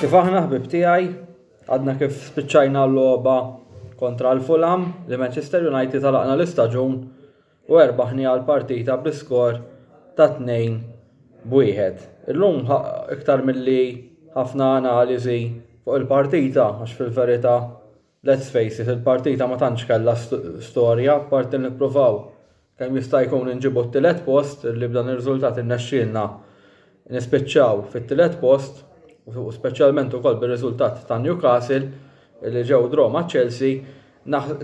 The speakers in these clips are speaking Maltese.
Kif aħna ħbieb tiegħi, għadna kif spiċċajna l-logħba kontra l-Fulham li Manchester United għalaqna l-istaġun u erbaħniha l-partita bi skor ta' 2 b'wieħed. Illum iktar milli ħafna analiżi fuq il-partita għax fil-verità Let's face it, il-partita ma tantx kellha storja, apparti li nippruvaw kemm jista' jkun inġibu t-tielet post, li b'dan ir-riżultat irnexxielna nispiċċaw fit-tielet post, u speċjalment ukoll bir-riżultat ta' Newcastle li ġew draw ma' Chelsea,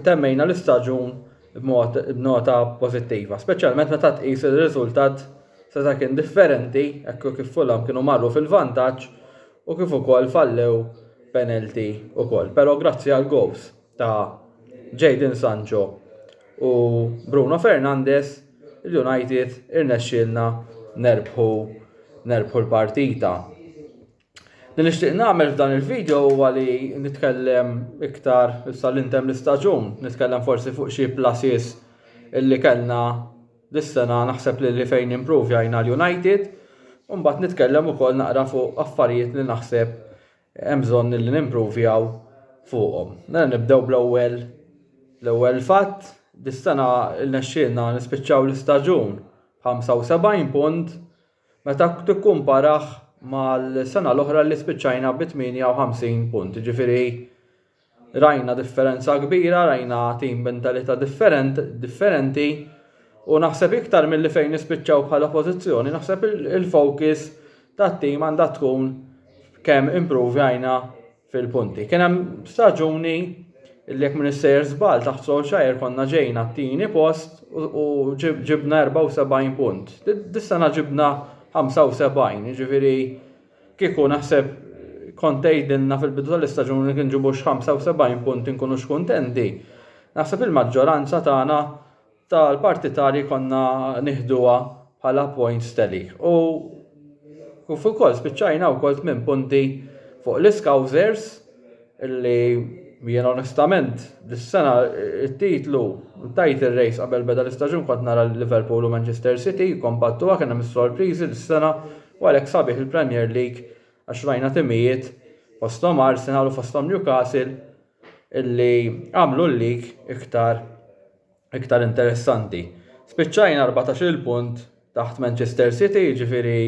temmejna l-istaġun b'nota pożittiva, speċjalment meta tqis li r-riżultat seta' kien differenti hekk kif Fulham kienu marru fil-vantaġġ u kif ukoll fallew penalty ukoll pero grazzi għal goals ta' Jadon Sancho u Bruno Fernandes il-United irnexxielna nerbħu nerbħu l-partita. Li nixtieq nagħmel f'dan il-video huwa li nitkellem iktar issa li ntemm l-istaġun, nitkellem forsi fuq xi pluses illi kellna Dis-sena naħseb li li fejn improvjajna l-United u mbagħad nitkellem ukoll naqra fuq affarijiet li naħseb hemm bżonn li nimprovjaw fuqhom. Mela nibdew bl-ewwel l-ewwel fatt, dis-sena rnexxielna nispiċċaw l-istaġun b'75 punt meta tikkumparah mal-sena l-oħra li spiċċajna bi 58 punt. Jiġifieri rajna differenza kbira, rajna tim b'mentalità differenti u naħseb iktar milli fejn nispiċċaw bħala pożizzjoni, naħseb il-focus tat-tim għandha tkun kemm improvjajna fil-punti. Kien hemm staġuni li jekk minn issejjer żball taħt Solskjaer konna ġejna t-tieni post u ġibna 74 punt. Dis-sena ġibna 75, jiġifieri kieku naħseb kont tgħidilna fil-bidu tal-istaġun li kien ġibux 75 punt inkunu x'kuntenti. Naħseb il-maġġoranza tagħna tal parti tali konna nieħduha bħala points tali u kif ukoll spiċċajna wkoll tmien punti fuq l-Iskawżers illi jien onestament dis-sena t-titlu tajt ir-rejs qabel beda l-istaġun kont nara lil Liverpool u Manchester City jikkompattuha kien hemm is-sorpriżi dis-sena u għalhekk sabiħ il-Premier League għax rajna timijiet fosthom Arsenal u fosthom Newcastle illi għamlu l-league iktar iktar interessanti. Spiċċajna 14-il punt taħt Manchester City, ġifiri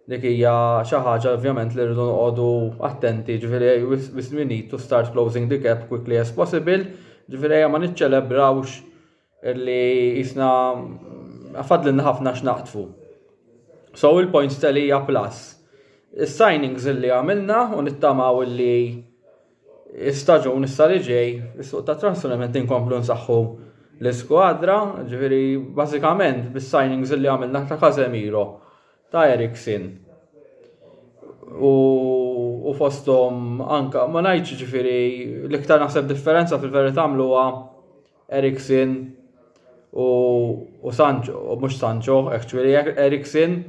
dik hija xi ħaġa ovvjament li rridu noqogħdu attenti, ġifiri we need to start closing the gap quickly as possible, ġifiri ma niċċelebrawx li jisna fadlinna ħafna x'naqtfu. So il-points telija plus. Is-signings li għamilna u nittamaw li Staġun issa li ġej is-suq ta' trasferiment inkomplu nsaħħu l-iskwadra, ġifieri bażikament bis-signings li għamilna ta' Casemiro, ta' Eriksen u u fosthom anke ma ngħidx ġifieri l-iktar naħseb differenza fil-verità għamluha Eriksen u u Sancho, mhux Sancho, ġifieri Eriksen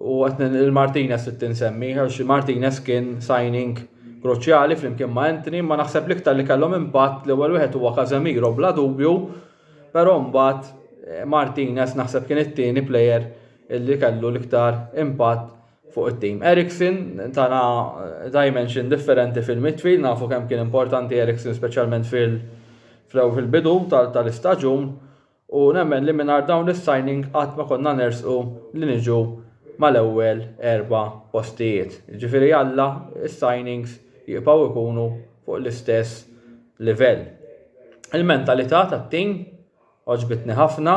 U qed il-Martinez trid tinsemmi għax Martinez kien signing kruċjali flimkien ma' Anthony, ma naħseb l-iktar li kellhom impatt l-ewwel wieħed huwa Casemiro bla dubju, però mbagħad eh, Martinez naħseb kien it-tieni plejer li kellu l-iktar impatt fuq it-tim. Eriksen tana eh, dimension differenti fil-midfield, nafu kemm kien importanti Eriksen speċjalment fil- fil-bidu tal-istaġun U nemmen li mingħajr dawn is-signing qatt ma konna nersqu li niġu mal-ewwel erba' postijiet. Jiġifieri Alla s-signings jibqgħu jkunu fuq l-istess livell. Il-mentalità tat-tim għoġbitni ħafna,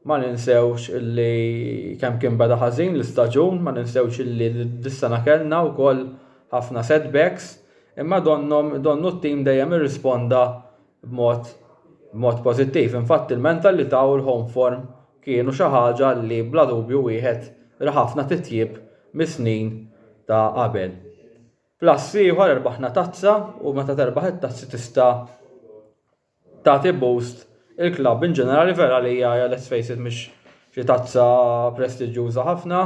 ma ninsewx li kemm kien beda ħażin l-istaġun, ma ninsewx li dis-sena kellna wkoll ħafna setbacks, imma donnhom donnu t-tim dejjem irrisponda B'mod pożittiv, infatti, il-mental li taw il-Homeform kienu xi ħaġa li bla dubju wieħed ra ħafna titjib mis-snin ta' qabel. Plus ieħor erbaħna tazza u meta terbaħ it-tazzi tista' tagħti boost il-klabb in ġenerali vera li hija let's face it mhix xi tazza prestiġjuża ħafna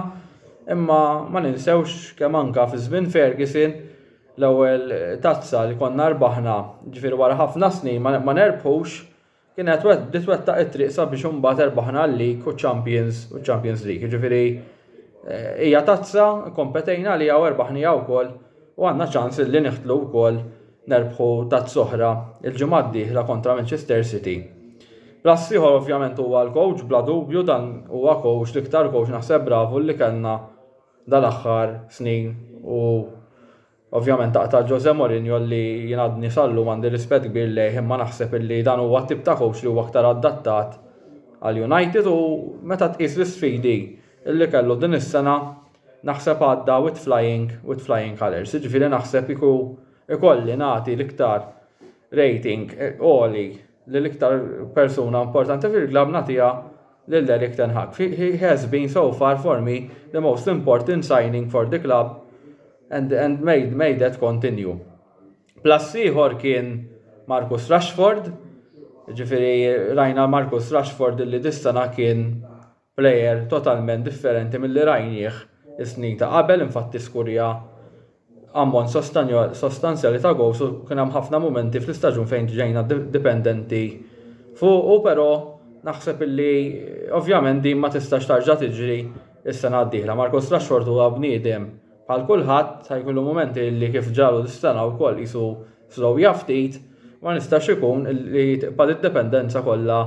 imma ma ninsewx kemm anke fi żmien Ferguson L-ewwel tazza li konna rbaħna, ġifieri wara ħafna snin ma nerbħux, kienet bdiet twettaq it-triq sabiex imbagħad erbaħna l-League u ċ-Champions u ċ-Champions League. Jiġifieri hija tazza, kompetejna għaliha u erbaħniha wkoll u għandna ċans li niħtlu wkoll nerbħu tazza oħra l-ġimgħa d-dieħla kontra Manchester City. L-ass ieħor ovvjament huwa l-coach bla dubju dan huwa coach l-iktar coach naħseb bravu li kellna dal-aħħar snin u ovvjament ta' ta' Jose Mourinho li jien għadni sal-lum għandi rispett kbir lejh imma naħseb illi dan huwa t-tip ta' coach li huwa aktar adattat għal United u meta tqis l-isfidi illi kellu din is-sena naħseb għadda with flying with flying colours jiġifieri naħseb kieku ikolli nagħti l-iktar rating għoli lil iktar persuna importanti fil-club nagħtiha lil Erik ten Hag. He has been so far for me the most important signing for the club and and may may that continue. Plus ieħor kien Marcus Rashford, ġifieri rajna Marcus Rashford li dis-sena kien plejer totalment differenti milli rajnieh is-snin ta' qabel, infatti skurja ammont sostanzjali ta' gowls u kien hemm ħafna mumenti fl-istaġun fejn ġejna dipendenti fuqu però naħseb illi ovvjament din ma tistax tarġa' tiġri s-sena d-dieħla. Marcus Rashford huwa bniedem bħal kulħadd sa jkollu mumenti illi kif ġralu dis-sena wkoll qisu slowja ftit, ma nistax ikun illi tibqa' d-dipendenza kollha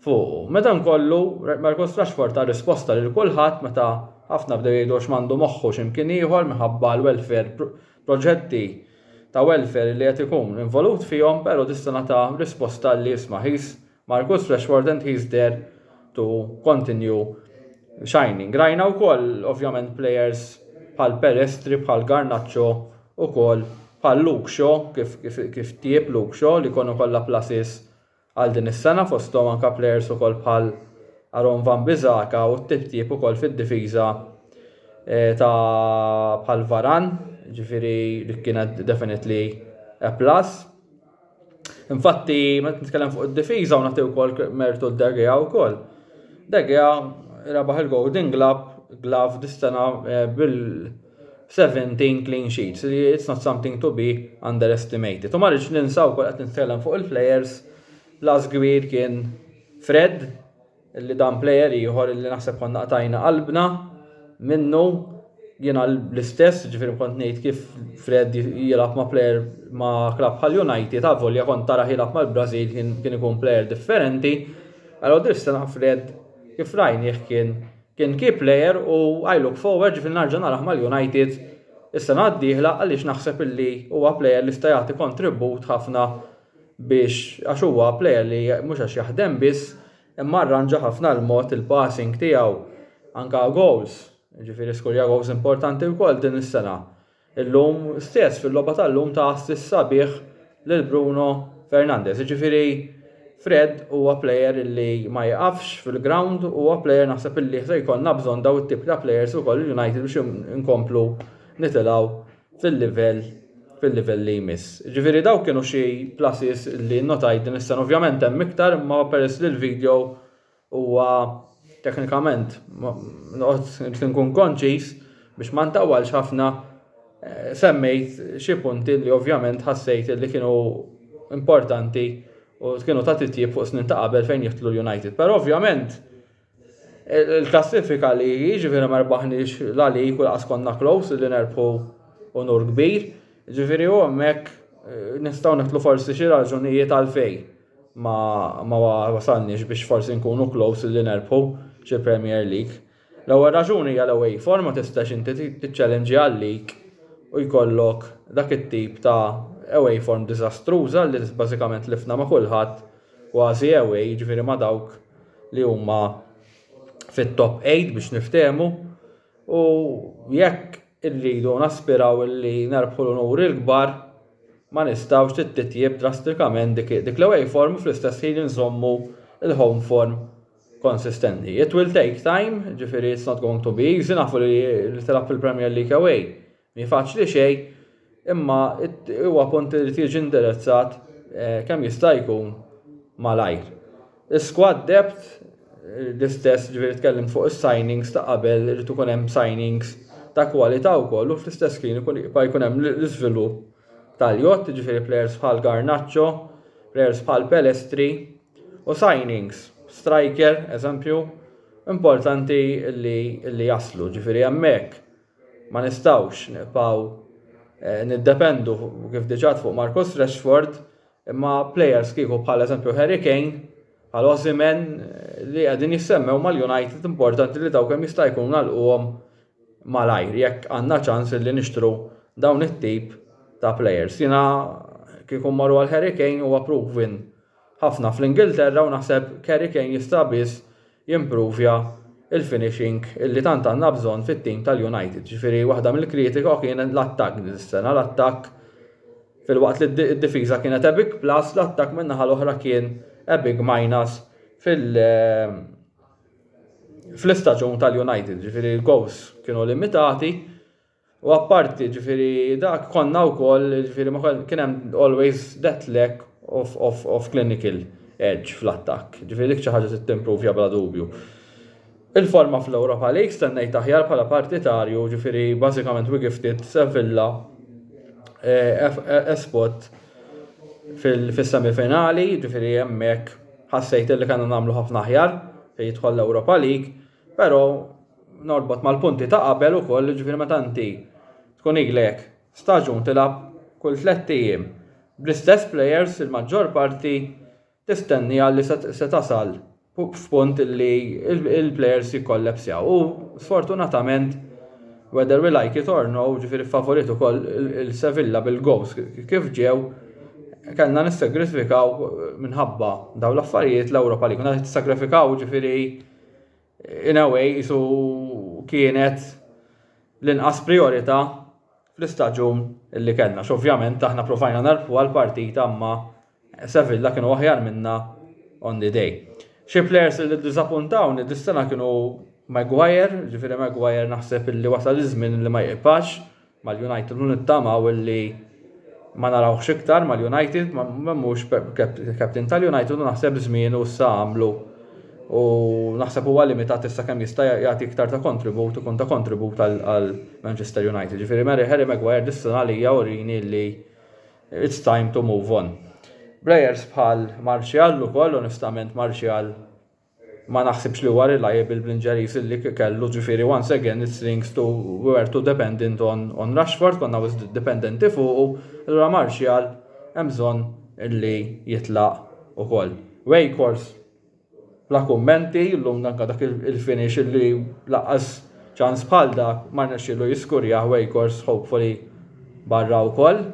fuqu. Madankollu, Markus Rashford ta risposta lil kulħadd meta ħafna bdew jgħidu għax m'għandu moħħu xi mkien ieħor minħabba l-welfare proġetti ta' welfare li qed ikun involut fihom pero dis-sena ta risposta li isma' he's Markus Rashford and he's there to continue shining. Rajna wkoll ovvjament players bħal Pelestri, bħal Garnacho ukoll bħal Luke Shaw kif kif tieb Luke Shaw li jkollu kollha pluses għal din is-sena fosthom anke plejers ukoll bħal Aaron Wan-Bissaka u t-titjib ukoll fid-difiża ta' bħal Varane, ġifieri dik kienet definitely a plus. Infatti, meta nitkellem fuq id-difiża u nagħti wkoll mertu De Gea wkoll. De Gea rebaħ il-Golden Glove dis-sena bil 17 clean sheets, li it's not something to be underestimated. U ma rridx ninsa wkoll qed nitkellem fuq il-players, l-as kbir kien Fred, li dan player ieħor li naħseb konna qtajna qalbna minnu jiena l-istess, ġifieri kont ngħid kif Fred jilgħab ma' player ma' klabb bħal United, avolja kont tara jilgħab mal-Brażil kien ikun player differenti. Allora dirstana Fred kif rajnieh kien Kien key player u I look forward ġifieri narġa' narah mal-United is-sena d-dieħla għaliex naħseb illi huwa player li jista' jagħti kontribut ħafna biex għax huwa player li mhux għax jaħdem biss imma arranġa ħafna l-mod il-passing tiegħu anke goals jiġifieri skurja goals importanti wkoll din is-sena Illum stess fil-logħba tal-lum ta' assist sabiħ lil Bruno Fernandes. Jiġifieri Fred huwa plejer illi ma jieqafx fil-ground, huwa plejer naħseb illi se jkollna bżonn daw it-tip ta' plejers ukoll il-United biex inkomplu nitilgħu fil-livell fil-livell li jmiss. Jiġifieri dawk kienu xi pluses illi nnotajt din is-sena. Ovvjament hemm iktar imma peress li l-video Huwa teknikament noqgħod nkun konċiż biex ma ntawwalx ħafna semmejt xi punti li ovvjament ħassejt li kienu importanti u kienu ta' titjib fuq snin ta' qabel fejn jiftlu l-United. Però ovvjament il-klassifika li jiġifieri ma rbaħniex la lig u laqas konna close li nerbħu unur kbir, jiġifieri u hemmhekk nistgħu neħtlu forsi xi raġunijiet għalfejn. ma, ma wasalniex biex forsi nkunu close li nerbħu xi Premier League. L-ewwel raġuni hija l-away form ma tistax inti tiċċelenġja għal lig u jkollok dak it-tip ta' away form diżastruża li bażikament tlifna ma' kulħadd kważi away, jiġifieri ma' dawk li huma fit-top eight biex niftehmu U jekk irridu naspiraw li nerbħu l-unuri l-kbar, ma nistgħux li titjieb drastikament dik dik l-away form u fl-istess ħin inżommu l-home form konsistenti. It will take time, ġifieri it's not going to be easy, nafu li li tilgħab fil-Premier League away Mhi faċli xejn, imma huwa punt li jrid jiġi indirizzat kemm jista' jkun malajr. Is-squad depth l-istess ġifieri tkellimt fuq is-signings ta' qabel irid ikun hemm signings ta' kwalità wkoll u fl-istess ħin ikun jibqa' jkun hemm l-iżvilupp tal-jott, jiġifieri plejers bħal Garnacho, plejers bħal Pelestri u signings, striker, eżempju, importanti li jaslu, ġifieri hemmhekk. Ma nistgħux nibqgħu niddependu kif diġà fuq Marcus Rashford imma plejers kieku bħal eżempju Harry Kane, bħal Osimhen li qegħdin jissemmew mal-United importanti li dawn kemm jista' jkun nagħlquhom malajr jekk għandna ċans li nixtru dawn it-tip ta' plejers. Jiena kieku mmorru għal Harry Kane huwa proven ħafna fl-Ingilterra u naħseb Kerry Kane jista' biss jimprovja l-finishing li tant għandna bżonn fit-tim tal-United. Ġifieri waħda mill-kritika kien l-attakk din is-sena, l-attakk filwaqt li d-difiża kienet a big plus, l-attakk min-naħa l-oħra kien a big minus fil- fl-istaġun tal-United. Ġifieri l-goals kienu limitati. U apparti ġifieri dak konna wkoll ġifieri ma kien hemm always that lack of, of, of clinical edge fl-attakk. Ġifieri dik xi ħaġa trid timpruvja bla dubju. Il-forma fl-Europa League stennejt aħjar bħala partitarju ġifieri bażikament we gifted Sevilla a spot fis-semifinali ġifieri hemmhekk ħassejt li kellna nagħmlu ħafna aħjar fejn jidħol l-Europa League Però norbot mal-punti ta' qabel ukoll, ġifieri meta inti tkun ilek staġun tilgħab kull tlett ijiem bl-istess plejers il-maġġor parti tistennieha li se tasal f'punt li l-plejers jikkollapsjaw u sfortunatament whether we like it or no, ġifieri ffavuriet ukoll il-Sevilla bil-gowls kif ġew, kellna nissagrisfikaw minħabba dawn l-affarijiet l-Ewropa League. Meta tissagrifikaw ġifieri. in a way isu kienet l-inqas priorità fl-istaġun li kellna. X'ovvjament aħna provajna nerbħu għal partita imma Sevilla kienu aħjar minna on the day. Xi players li ddiżappuntawni dis-sena kienu Maguire, ġifieri Maguire naħseb li wasal iż-żmien li ma jibqax mal-United u nittamaw li ma narawhx iktar mal-United ma mhux captain tal-United u naħseb żmienu issa għamlu u naħseb huwa limitat issa kemm jista' jagħti iktar ta' kontribut ikun ta' kontribut għal Manchester United. Ġifieri Harry Maguire dissuna għalija urini li it's time to move on. Players bħal Martial ukoll onestament Martial Ma naħsibx li huwa reliable bl-Inġeriż li kellu, ġifieri once again it slings to we were too dependent on on Rashford, konna wisq dipendenti fuqu, allura Martial hemm bżonn li jitlaq ukoll. Weghorst bla kummenti, llum anke dak il-finish li laqqas ċans bħal dak ma rnexxielu jiskurjah Weghorst hopefully barra wkoll.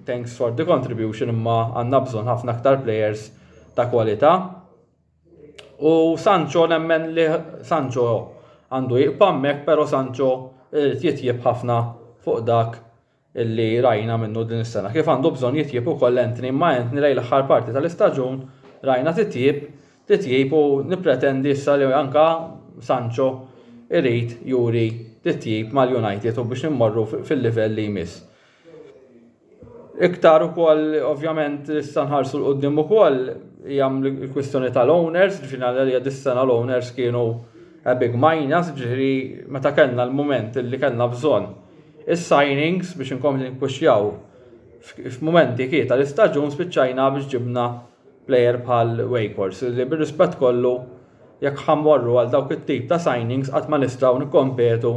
Thanks for the contribution imma għandna bżonn ħafna aktar players ta' kwalità. U Sancho nemmen li Sancho għandu jibqa' hemmhekk, però Sancho irid jitjieb ħafna fuq dak illi rajna minnu din is-sena. Kif għandu bżonn jitjieb ukoll Anthony, imma Anthony lejn l-aħħar parti tal-istaġun rajna titjib, titjib u nippretendi issa li anka Sancho irid juri titjib mal-United u biex immorru fil-livell li jmiss. Iktar ukoll ovvjament issa nħarsu l quddiem ukoll hija l-kwistjoni tal-owners, ġifieri għalija dis-sena l-owners kienu a big minus, ġifieri meta kellna l-mument li kellna bżonn is-signings biex inkomplu nippuxjaw f'mumenti kif tal-istaġun spiċċajna biex ġibna plejer bħal Weghorst li bir-rispett kollu jekk ħa mmorru għal dawk it-tip ta' signings qatt ma nistgħu nikkompetu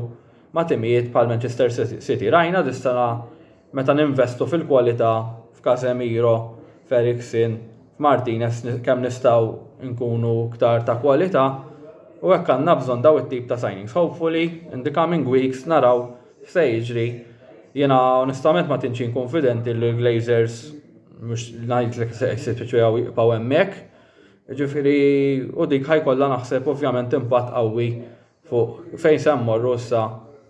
ma' timijiet bħal Manchester City. Rajna dis-sena meta ninvestu fil-kwalità f'Casemiro, f'Eriksen, f'Martinez kemm nistgħu nkunu ktar ta' kwalità u hekk għandna bżonn daw it-tip ta' signings. Hopefully in the coming weeks naraw x'se jiġri. Jiena onestament ma tantx inkun fidenti li l-Glazers mhux ngħidlek se jispiċċaw jibqgħu hemmhekk. Jiġifieri u dik ħajkollha naħseb ovvjament impatt qawwi fuq fejn se mmorru issa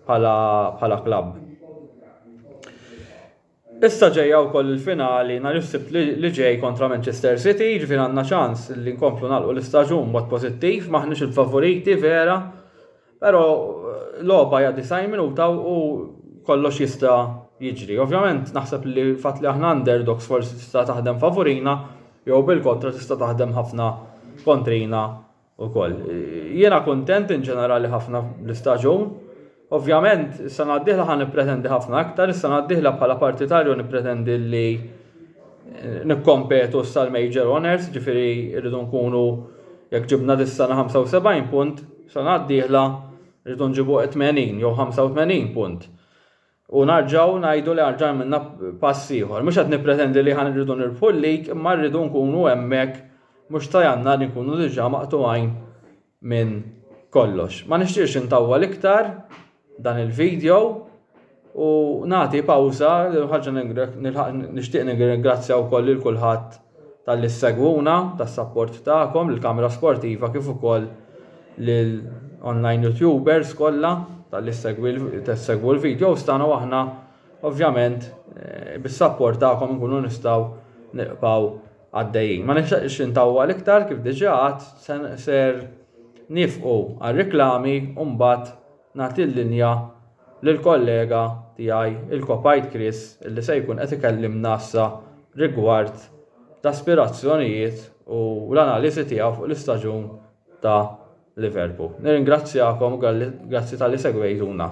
bħala bħala klabb. Issa ġejja wkoll il-finali nhar is-Sibt li ġej kontra Manchester City, ġifier għandna ċans li nkomplu nagħlqu l-istaġun b'mod pożittiv, m'aħniex il-favoriti vera, però eh, logħba hija 90 minuta u kollox jista' jiġri. Ovvjament naħseb li fatt li aħna underdogs forsi tista' taħdem favurina jew bil-kontra tista' taħdem ħafna kontrina ukoll. Jiena kuntent in ġenerali ħafna bl-istaġun. Ovvjament, is-sena d-dieħla ħa nippretendi ħafna aktar, is-sena d-dieħla bħala partitarju nippretendi li nikkompetu issa l-Major Honours, jiġifieri rridu nkunu jekk ġibna dis-sena 75 punt, sena d-dieħla rridu nġibu 80 jew 85 punt. U narġgħu ngħidu li arġa' għamilna pass ieħor. Mhux qed nippretendi li ħan irridu nirbħu l-lig imma rridu nkunu hemmhekk mhux ta' Jannar inkunu diġà maqtugħin minn kollox. Ma nixtieqx intawwal iktar dan il-video u nagħti pawża ħaġa nixtieq nirringrazzja wkoll lil kulħadd talli ssegwuna, tas-sapport tagħkom lill-Kamra Sportiva kif ukoll lill-online YouTubers kollha talli ssegwu l-videos tagħna u aħna ovvjament bis-sapport tagħkom inkunu nistgħu nibqgħu għaddejjin. Ma nixtieqx intawwal iktar kif diġà għadt ser nifqu għar-riklami u mbagħad Nagħti l-linja lill-kollega tiegħi, il-Kopajt Chris, li se jkun qed ikellimna issa rigward l-aspirazzjonijiet u l-analiżi tiegħu fuq l-istaġun ta' Liverpool. Nirringrazzjakom u grazzi talli segwejtuna.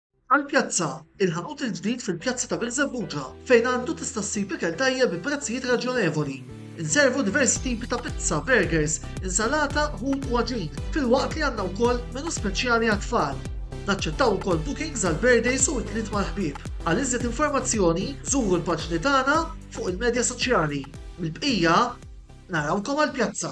Għall-pjazza, il-ħanut il-ġdid fil-pjazza ta' Birżebbuġa fejn għandu tista' ssib ikel tajjeb bi prezzijiet raġjonevoli. Inservu diversi tipi ta' pizza, burgers, insalata, ħut u għaġin, filwaqt li għandna wkoll menu speċjali għat-tfal. Naċċettaw ukoll bookings għal birthdays u ikliet mal-ħbieb. Għal iżjed informazzjoni, żuru l-paġni tagħna fuq il-medja soċjali. Mill-bqija, narawkom għall-pjazza!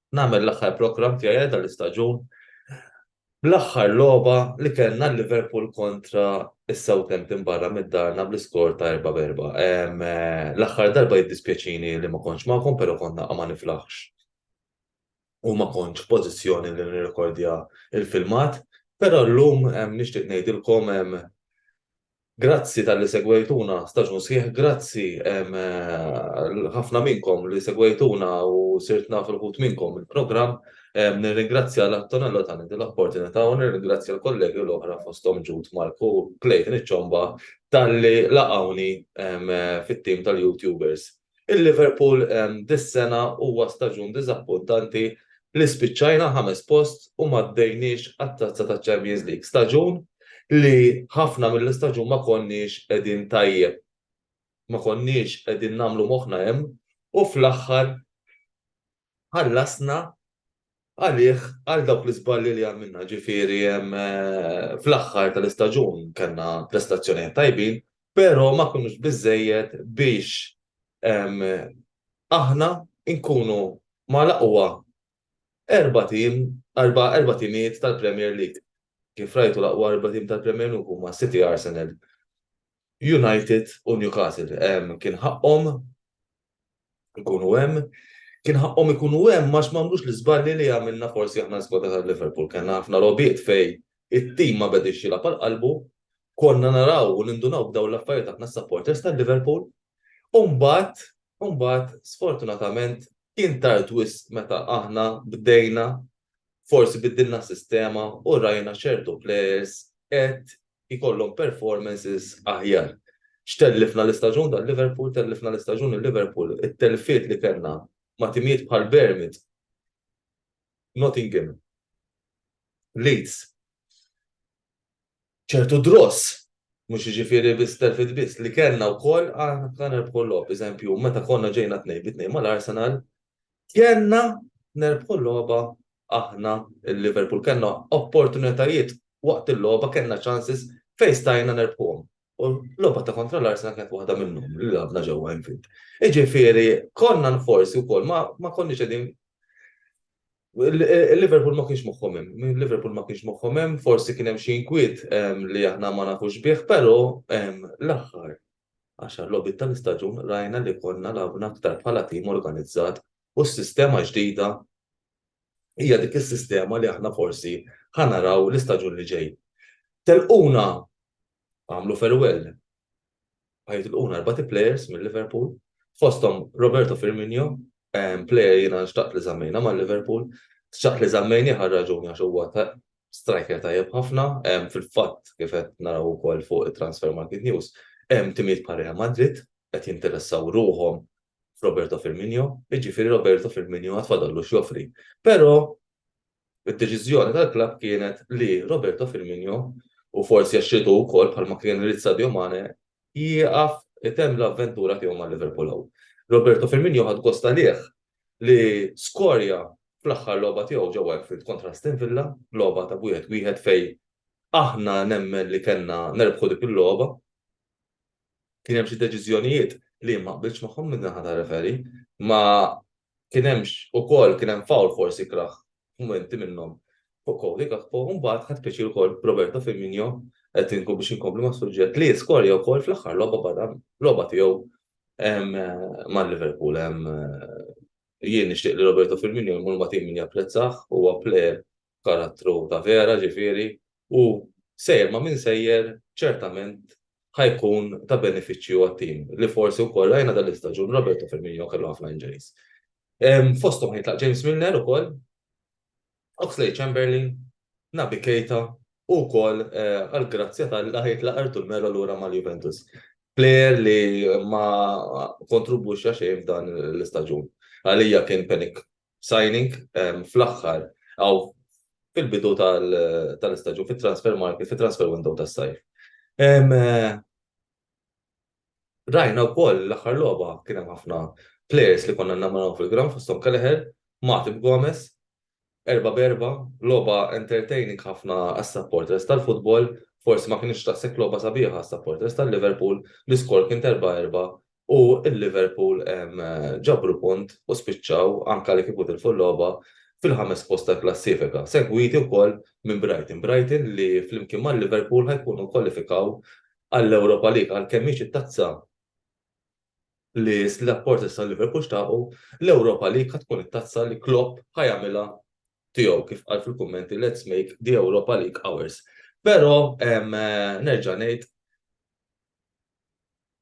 nagħmel l-aħħar programm tiegħi għal dan l-istaġun bl-aħħar logħba li kellna Liverpool kontra is-Southampton barra mid-darna bl-iskor ta' 4 berba. L-aħħar darba jiddispjaċini li ma kontx magħkom, però konna ma niflaħx u ma kontx pożizzjoni li nirrekordja il-filmat, però llum nixtieq ngħidilkom Grazzi talli segwejtuna staġun sħiħ grazzi l-ħafna minnkom li segwejtuna u sirt naf il-ħut minnkom mill-programm. Nirringrazzja l-Antonello tani din l-opportunità u nirringrazzja l-kollegi l-oħra fosthom Jude, Mark u Clayton iċ-Ċomba talli laqgħuni fit-tim tal-YouTubers. Il-Liverpool dis-sena huwa staġun diżappuntanti li spiċċajna ħames post u m'għaddejniex għat-Tazza taċ-Champions League. Staġun li ħafna mill-istaġun ma konniex qegħdin tajjeb. Ma konniex qegħdin nagħmlu moħħna hemm u fl-aħħar ħallasna għalih għal dawk l-iżbalji li għamilna, ġifieri fl-aħħar tal-istaġun kellna prestazzjonijiet tajbin, però ma kinux biżżejjed biex aħna nkunu mal-aqwa erba' tim, erba' timijiet tal-Premier League. Kif rajtu l-aqwa erba' tim tal-Premier League huma City, Arsenal United u Newcastle. Kien ħaqqhom ikunu hemm. Kien ħaqqhom ikunu hemm għax m'għamlux l-iżbalji li għamilna forsi aħna l-iskwadra ta' Liverpool. Kellna ħafna logħbiet fejn it-tim ma bediex jilgħab għal qalbu. Konna naraw u nindunaw b'dawn l-affarijiet aħna s-supporters ta' Liverpool. U mbagħad, u mbagħad sfortunatament kien tard wisq meta aħna bdejna, forsi biddilna s-sistema u rajna ċertu plejers qed jkollhom performances aħjar. X'tellifna l-istaġun ta' Liverpool, tellifna l-istaġun lil Liverpool. It-telfiet li kellna ma' timijiet bħal Bournemouth, Nottingham, Leeds, ċertu draws, mhux jiġifieri biss telfiet biss, li kellna wkoll aħna konna nerbħu l-logħob. Eżempju, meta konna ġejna tnejn bi tnejn mal-Arsenal, kellna nerbħu l-logħba aħna il-Liverpool kellna opportunitajiet waqt il-logħba kellna chances fejn stajna nerbħuhom. U l-logħba ta' kontra l-Arsenal kienet waħda minnhom li labna ġewwa infid. Iġifieri konna nforsi wkoll ma, ma konniex qegħdin Il-Liverpool ma kienx moħħom hemm, il-Liverpool ma kienx moħħom hemm, forsi kien hemm xi inkwiet ehm, li aħna ma nafux bih, però ehm, l-aħħar għaxar logħbiet tal-istaġun rajna li konna labna aktar bħala tim organizzat u s-sistema ġdida hija dik is-sistema li aħna forsi ħa naraw l-istaġun li ġej. Telquna għamlu farewell. Għajt l-quna erbati players minn Liverpool, fostom Roberto Firmino, player jina xtaqt li zammejna ma' Liverpool, xtaqt li zammejni ħar raġuni għax huwa striker tajjeb ħafna, fil-fatt kif qed naraw ukoll fuq transfer market news, hemm timiet bħal Real Madrid qed jinteressaw ruhom f'Roberto Firmino, jiġifieri Roberto Firmino għad fadallu x'joffri. Però id-deċiżjoni tal-klabb kienet li Roberto Firmino u forsi għax ridu wkoll bħalma kien irid Sadio Mane jieqaf itemm l-avventura tiegħu ma' Liverpool hawn. Roberto Firmino ħad gost għalih li skorja fl-aħħar logħba tiegħu ġewwa Anfield kontra Aston Villa, logħba ta' wieħed wieħed fej aħna nemmen li kellna nerbħu dik il-logħba. kien hemm xi deċiżjonijiet li ma qbiltx magħhom minn naħa ta' referi, ma kien hemmx ukoll kien hemm fawl forsi kraħ f'mumenti minnhom fuq Cody Gakpo, mbagħad ħadd pjaċir ukoll Roberto Firmino qed inkun biex inkompli mas-suġġett li skorja wkoll fl-aħħar logħba barra logħba tiegħu ma' Liverpool. Jien nixtieq li Roberto Firmino jmur ma' tim min japprezzah, huwa plejer karattru ta' vera ġifieri u sejjer ma' min sejjer ċertament ħa jkun ta' benefiċċju għat-tim li forsi wkoll rajna dan l-istaġun Roberto Firmino kellu ħafna injuries. Fosthom ħa jitlaq James Milner ukoll, Oxlade-Chamberlain, Naby Keita u wkoll għall-grazzja t'Alla ħa jitlaq Artur Melo lura mal-Juventus. Plejer li ma kontrubwixxa xejn f'dan l-istaġun. Għalija kien panic signing fl-aħħar aw fil-bidu tal-istaġun fit-transfer market, fit-transfer window tas-sajf. Rajna wkoll l-aħħar logħba kien hemm ħafna players li konna namaraw fil-ground fosthom Kelleher, Matip Gomez, erba' b'erba', logħba entertaining ħafna għas-supporters tal-futbol, forsi ma kinitx daqshekk logħba sabiħa għas-supporters tal-Liverpool, l-iskor kien t'erba' erba' u l-Liverpool ġabru punt u spiċċaw, anke li kieku tilfu l-logħba, fil-ħames post tal-klassifika, segwiti wkoll minn Brighton. Brighton li flimkien mal-Liverpool ħa jkunu kkwalifikaw għall-Europa League għalkemm mhix it-tazza li s-supporters tal-Liverpool xtaqu, l-Europa League ħa tkun it-tazza li Klopp ħa jagħmilha tiegħu kif qal fil-kummenti let's make the Europa League ours. Però nerġa' ngħid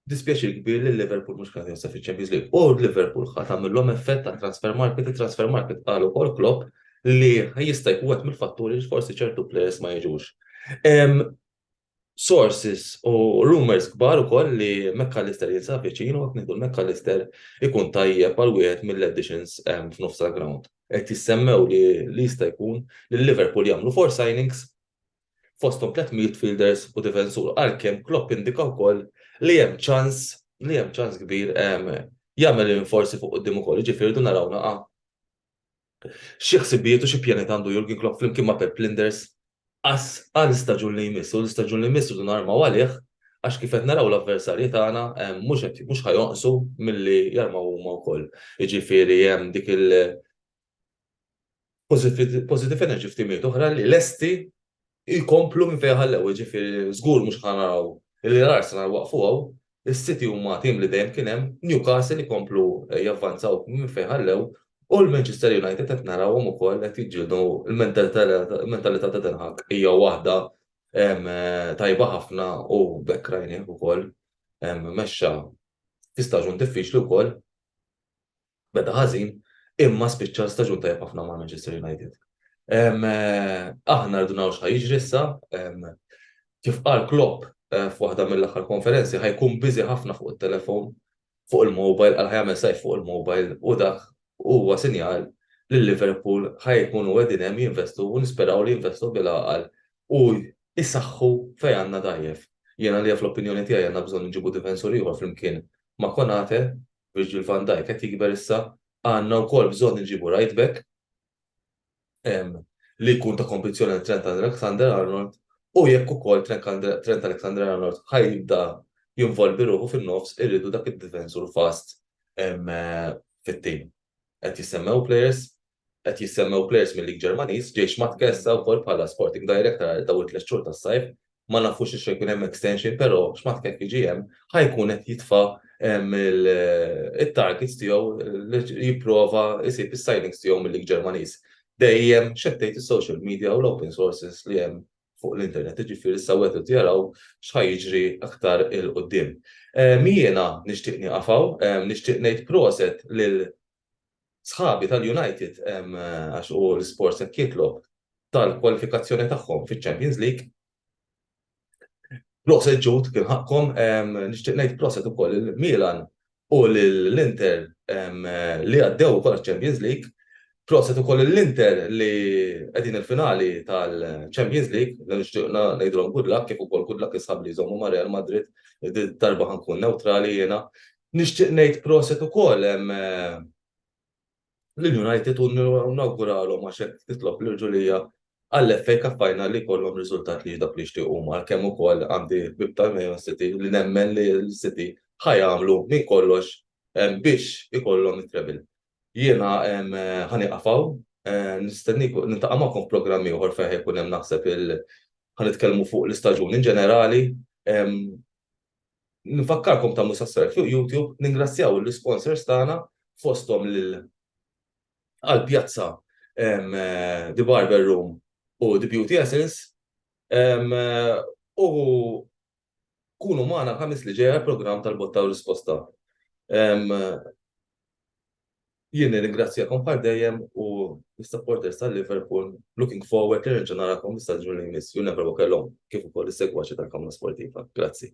Dispjaċir kbir li Liverpool mhux kien josef iċ-Champions League u Liverpool ħadd għamilhom effett ta' transfer market, transfer market qal ukoll Klopp li jista' jkun qed mill-fatturi li forsi ċertu players ma jiġux. Sources u rumors kbar ukoll li McAllister jinsab viċin u qed ngħidu McAllister ikun tajjeb għal wieħed mill-additions f'nofs ground. Qed jissemmew li jista' jkun li Liverpool jagħmlu four signings fosthom tliet midfielders u difensur għalkemm Klopp indika wkoll li hemm ċans li hemm ċans kbir jagħmel rinforzi fuq quddiem ukoll, jiġifieri rridu naraw naqa' xi ħsibijiet u xi pjanijiet għandu Jurgen Klopp flimkien ma' Pep Linders għal staġun li jmiss u l-istaġun li jmiss rridu narmaw għalih għax kif qed naraw l-avversarji tagħna mhux qed mhux ħajonqsu milli jarmaw huma wkoll. Jiġifieri hemm dik il Positive Energy f'timijiet oħra li lesti jkomplu minn fejn ħallew, ġifieri żgur mhux ħa naraw li l-Arsenal waqfu hawn, is-City huma tim li dejjem kien hemm, Newcastle ikomplu javvanzaw minn fejn ħallew u l-Manchester United qed narawhom ukoll qed jiġġieldu l-mentalità ta' Ten Hag hija waħda tajba ħafna u b'hekk rajnieh ukoll mexxa fi staġun diffiċli wkoll. beda ħażin imma spiċċa staġun tajjeb ħafna ma' Manchester United. Aħna rridu naraw x'ħa jiġri issa, kif qal Klopp eh, f'waħda mill-aħħar konferenzi ħajkun biżi ħafna fuq it-telefon, fuq il-mobile, għal ħajamel sajf fuq il-mobile u dak huwa sinjal li Liverpool ħajkunu għedin hemm jinvestu u nisperaw li jinvestu bil-għaqal u jisaxħu fej għandna dajjef. Jiena li fl-opinjoni tiegħi għandna bżonn nġibu difensur ieħor flimkien ma' Konate Virgil van Dijk qed jikber issa, għandna wkoll bżonn inġibu right back li jkun ta' kompetizzjoni għal Trent Alexander-Arnold u jekk ukoll Trent Alexander-Arnold ħaj jibda jinvolvi ruħu fin-nofs irridu dak id-difensur fast fit-tim. Qed jissemmew players Qed jissemmew players mil-League Ġermaniż, ġej x'matt Kessa wkoll bħala Sporting Director għal dawn it-tliet xhur tas-sajf, ma nafux jekk se jkun hemm extension però x'matt jekk jiġi hemm ħa jkun qed jitfa' it-targets tiegħu li jipprova jsib is-signings tiegħu mil-League Ġermaniż. Dejjem x'qed tgħid is-social media u l-open sources li hemm fuq l-internet, jiġifieri issa wegħdu jaraw x'ħa jiġri aktar 'il quddiem. Jiena nixtieq nieqaf hawn, nixtieq ngħid proset lil sħabi tal-United għax u l-isport se jitlob tal-kwalifikazzjoni tagħhom fiċ-Champions League. Proset ġut kien ħakkom nixtieq ngħid proset ukoll il-Milan u l-Inter li għaddew ukoll Champions League. Proset ukoll l-Inter li qegħdin il-finali tal-Champions League, nixtieq ngħidulhom good luck kif ukoll good luck is-sħab li jżommu ma' Real Madrid, darba ħankun neutrali jiena, Nixtieq ngħid proset ukoll lill-United u nawguralhom għax hekk titlob l-irġulija għall-FA Cup Final li jkollhom riżultat li dak li jixtiequ huma għalkemm ukoll għandi l-ħbieb ta' Man City li nemmen li l-City ħa jagħmlu minn kollox biex ikollhom it-treble. Jiena ħa nieqaf hawn. Nistenniekom, niltaqa' magħkom f'programm ieħor fejn ħa jkun hemm naħseb il-, ħa nitkellmu fuq l-istaġun in ġenerali. Nfakkarkom tagħmlu subscribe fuq YouTube, ningrazzjaw il-sponsors tagħna fosthom lil Al Piazza, The Barber Room u The Beauty Essence. U kunu magħna l-ħamis li ġejja l-programm tal-botta u risposta. Jien nirringrazzjakom bħal dejjem u l-supporters tal-Liverpool looking forward li nerġa' narakom l-istaġun li jmiss u never walk alone kif ukoll is-segwaċi tal-Kamra Sportiva. Grazzi.